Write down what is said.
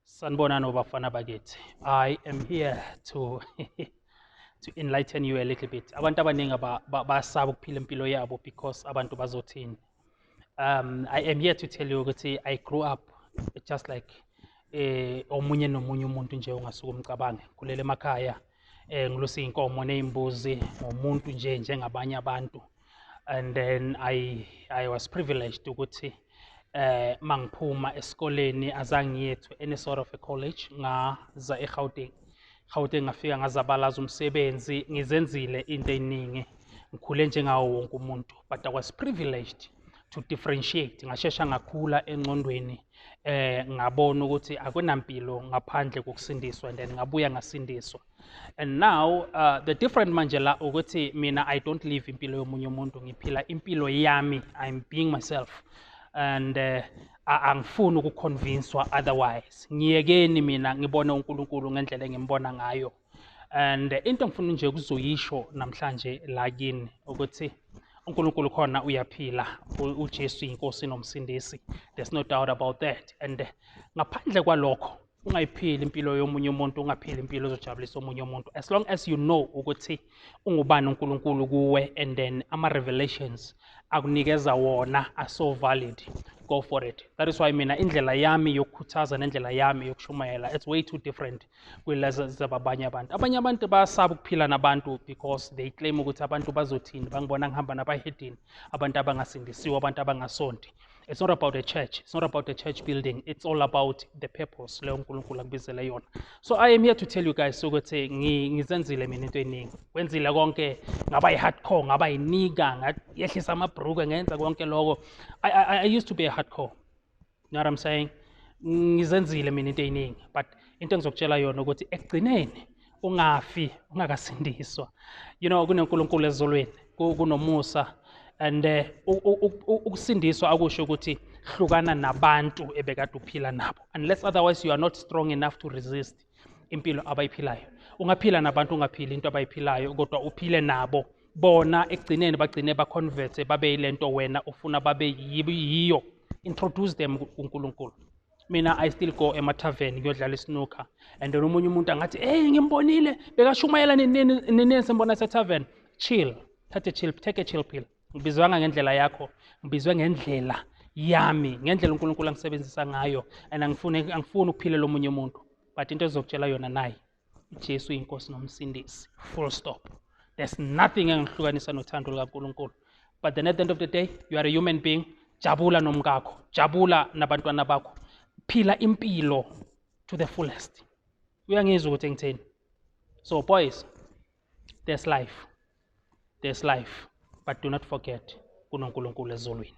Sanibonani obafana bakithi. I am here to to enlighten you a little bit. Abantu abaningi basaba ukuphila impilo yabo because abantu bazothini. Um I am here to tell you ukuthi I grew up just like eh omunye nomunye umuntu nje ongasuka umcabange kulele emakhaya. eh ngilusa inkomo nezimbuzi ngomuntu nje njengabanye abantu and then i i was privileged ukuthi eh mangiphuma esikoleni azangiyethu any sort of a college ngaza eGauteng Gauteng ngafika ngazabalaza umsebenzi ngizenzile into eningi ngikhule njengawo wonke umuntu but i was privileged to differentiate ngashesha ngakhula engqondweni eh ngabona ukuthi akunampilo ngaphandle kokusindiswa and then ngabuya ngasindiswa and now uh, the different manje la ukuthi mina i don't live impilo yomunye umuntu ngiphila impilo yami i'm being myself and uh, angifuni ukuconvinswa otherwise ngiyekeni mina ngibone uNkulunkulu ngendlela engimbona ngayo and into engifuna nje ukuzoyisho namhlanje la kini ukuthi uNkulunkulu khona uyaphila uJesu inkosi nomsindisi there's no doubt about that and ngaphandle kwalokho ungayiphili impilo yomunye umuntu ungaphili impilo ezojabulisa omunye umuntu as long as you know ukuthi ungubani uNkulunkulu kuwe and then ama revelations akunikeza wona are so valid go for it that is why mina indlela yami yokukhuthaza nendlela yami yokushumayela it's way too different kwelazababanye abantu abanye abantu bayasaba ukuphila nabantu because they claim ukuthi abantu bazothini bangibona ngihamba nabahedini abantu abangasindisiwe abantu abangasonti it's not about a church it's not about a church building it's all about the purpose leyo unkulunkulu akubizele yona so i am here to tell you guys ukuthi ngizenzile mina into eningi wenzile konke ngaba yi-hardcore ngaba yinika ngehlisa amabhrukwe ngenza konke loko I, I, i used to be a hardcore you know what I'm saying ngizenzile mina into eyiningi but into engizokutshela yona ukuthi ekugcineni ungafi ungakasindiswa you know kunenkulunkulu ezulwini kunomusa and eh, ukusindiswa akusho ukuthi hlukana nabantu ebekade uphila nabo unless otherwise you are not strong enough to resist impilo abayiphilayo ungaphila nabantu ungaphili into abayiphilayo kodwa uphile nabo bona ekugcineni bagcine baconverte babe yile nto wena ufuna babe yiyo introduce them kuNkulunkulu mina i still go emathaveni ngiyodlala isnooker and then omunye umuntu angathi hey ngimbonile bekashumayela ninini simbona setavern chill thathe chill take a chill pill ngibizwanga ngendlela yakho ngibizwe ngendlela yami ngendlela uNkulunkulu angisebenzisa ngayo and angifuni angifuni ukuphile lomunye umuntu but into ezokutshela yona nayi uJesu inkosi nomsindisi full stop there's nothing engihlukanisa nothando lukaNkulunkulu but then at the end of the day you are a human being jabula nomkakho jabula nabantwana bakho phila impilo to the fullest uyangizwa ukuthi ngitheni so boys there's life there's life but do not forget kunonkulunkulu ezulwini